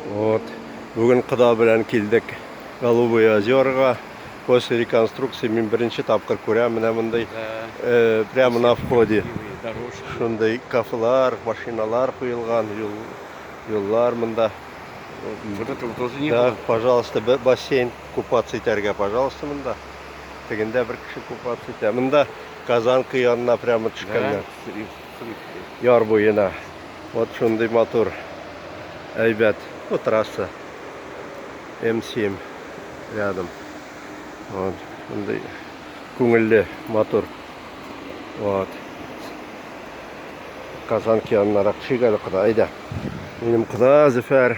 Вот. Бүген кода белән килдек Голубые озерга. После реконструкции мин беренче тапкыр күрәм менә мондый. Э, прямо на входе. Шундый кафелар, машиналар куелган, юл, юллар монда. Вот этого тоже не да, было. пожалуйста, бассейн купаться итәргә, пожалуйста, монда. Тегендә бер кеше купаться итә. Монда Казанка янына прямо төшкәннәр. Яр буена. Вот шундый матур. Әйбәт. Вот трасса. М7 рядом. Вот. Шундый күңелле, матур. Вот. Казанка янынарак төшик әле, кода. Әйдә. Минем кода Зөфәр.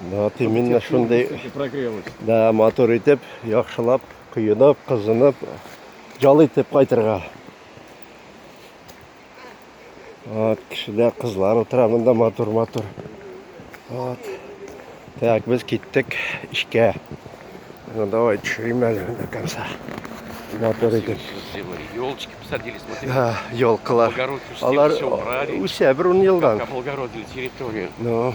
Вот именно шундый да матур итеп, яхшылап, коенып, кызынып, жал итеп кайтырга. Вот, кешеләр, кызлар утыра монда матур-матур. Вот. Так, без киттек эшкә. Ну давай, төшерим әле до конца. Матур итеп. Елочки посадили, смотри. Да, елкалар. Алар үсә бер ун елдан. Облагородили территорию. Ну.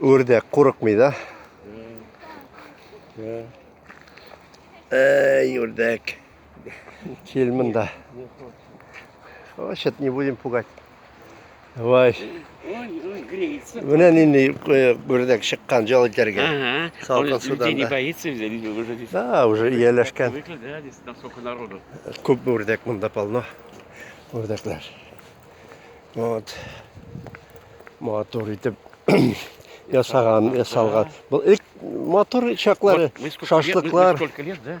Үрдәк курыкмый да. Эй, үрдәк. Кил монда. Значит, не будем пугать. Вай. Менә нинди гүрдәк э, чыккан җал итәргә. Салкын суда. не боится, люди уже здесь. Да, уже ияләшкән. Привыкли, да, здесь там сколько народу. Күп гүрдәк монда полно. Гүрдәкләр. Вот. Матур итеп ясаган, ясалган. Был ик матур чаклары, шашлыклар. Сколько лет, да?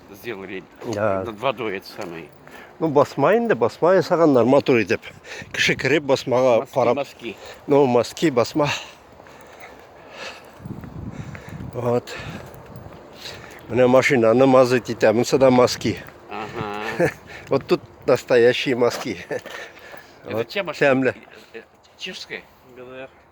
сделали да. над водой это самое. Ну, басма инде, басма ясаганнар матур итеп. Кеше кереп басмага карап. Маски. Ну, маски, басма. Вот. Менә машинаны мазать итә, монсы да маски. Ага. Вот тут настоящие маски. Это вот. чья машина? Э, э, чешская? ГДР.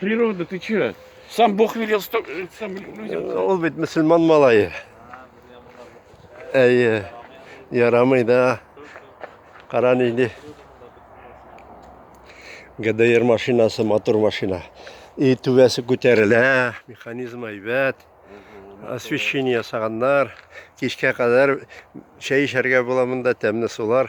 Природа, ты че? Сам Бог велел сто... Э, сам людям. Э, ол бит мусульман малайы. Әйе. Ярамый да. Кара нинди. ГДР машинасы, мотор машина. И түбәсе күтәрелә, механизм әйбәт. Освещение ясаганнар. Кичкә кадәр чәй эчәргә була монда тәмле сулар.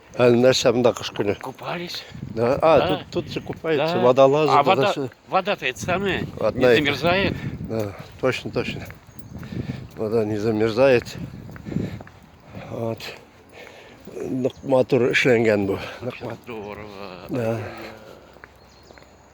А нәрсә монда кыш көне? Купались. Да? А, да. тут, тут же купаются, да. водолазы. А вода, все. вода-то это самое, Одна не замерзает. Да, точно, точно. Вода не замерзает. Вот. Нык матур эшләнгән бу. Здорово. Да.